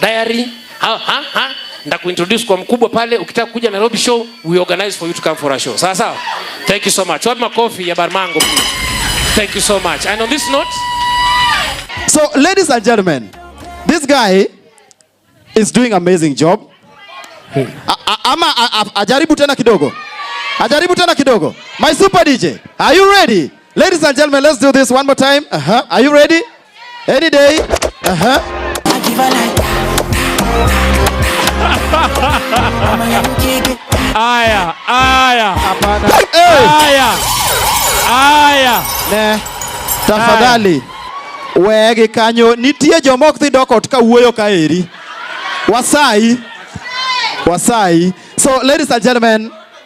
diary ha ha ha ndakuintroduce kwa mkubwa pale, ukitaka kuja Nairobi show we organize for you to come for a show. Sawa sawa, thank you so much. Wapi makofi ya Barmango? Thank you so much. And on this note, so ladies and gentlemen, this guy is doing amazing job. Hmm. Ama ajaribu tena kidogo, ajaribu tena kidogo. My super DJ, are you ready? Ladies and gentlemen, let's do this one more time. Uh -huh. Are you ready? Any day. Uh -huh. Aya, aya. Hapana. Aya. Aya. Ne. Tafadhali. Wegi kanyo nitie joma ok dhi dok ot ka wuoyo ka eri. Wasai. Wasai. So ladies and gentlemen,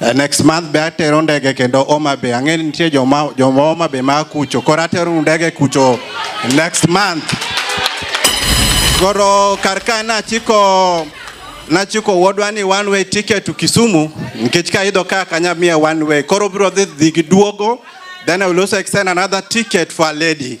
Uh, next month be atero ndege kendo Homa Bay. Ang'e nitie joma joma Homa Bay ma kucho. Koro atero ndege kucho next month. Koro kar ka nachiko nachiko wuodwa ni one way ticket to Kisumu nikech ka idho ka kanya miya one way. Koro biro dhi dhi gi duogo then I will also extend another ticket for a lady.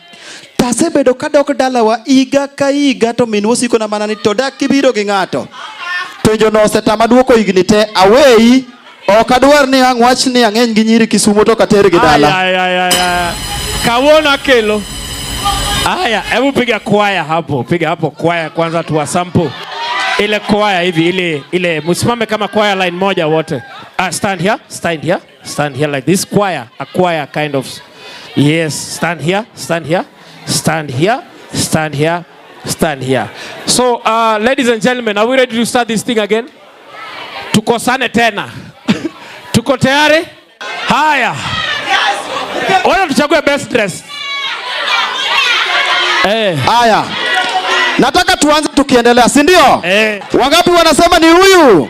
To asebedo kadok dalawa higa ka higa to minwa osikona mana ni to dak kibiro gi ng'ato. Penjono osetama dwoko higni te aweyi ok adwar ni ang' wach ni ang'eny gi nyiri Kisumo to kater gi dala. Ay, ay, ay, ay. Kawuono akelo. Haya, hebu piga kwaya hapo, piga hapo kwaya kwanza tuwa sample. Ile kwaya hivi ile ile msimame kama kwaya line moja wote. Ah, stand here, stand here. Stand here like this choir, a choir kind of. Yes, stand here, stand here, stand here, stand here, stand here. So, uh, ladies and gentlemen, are we ready to start this thing again? Tukosane tena. Tuko tayari? Haya. Wala tuchague best dress. Eh. Haya. Nataka tuanze tukiendelea, si ndio? Eh. Wangapi wanasema ni huyu?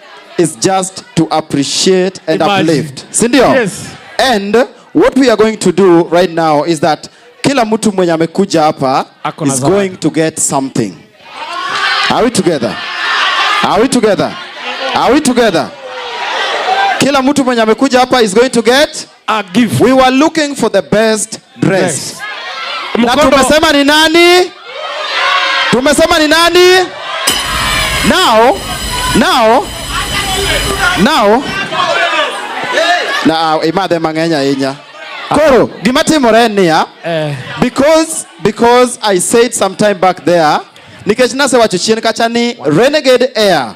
is just to appreciate and Imagine. uplift. Si ndio? Yes. And what we are going to do right now is that kila mtu mwenye amekuja hapa is going to get something. Are we together? Are we together? Are we together? Kila mtu mwenye amekuja hapa is going to get a gift. We were looking for the best dress. Yes. Na tumesema ni nani? Tumesema ni nani? Now, now, now, na imadhe mang'eny ahinya koro gima timore en niya eh. because because i said some time back there nikech nasewacho chien kacha ni renegade air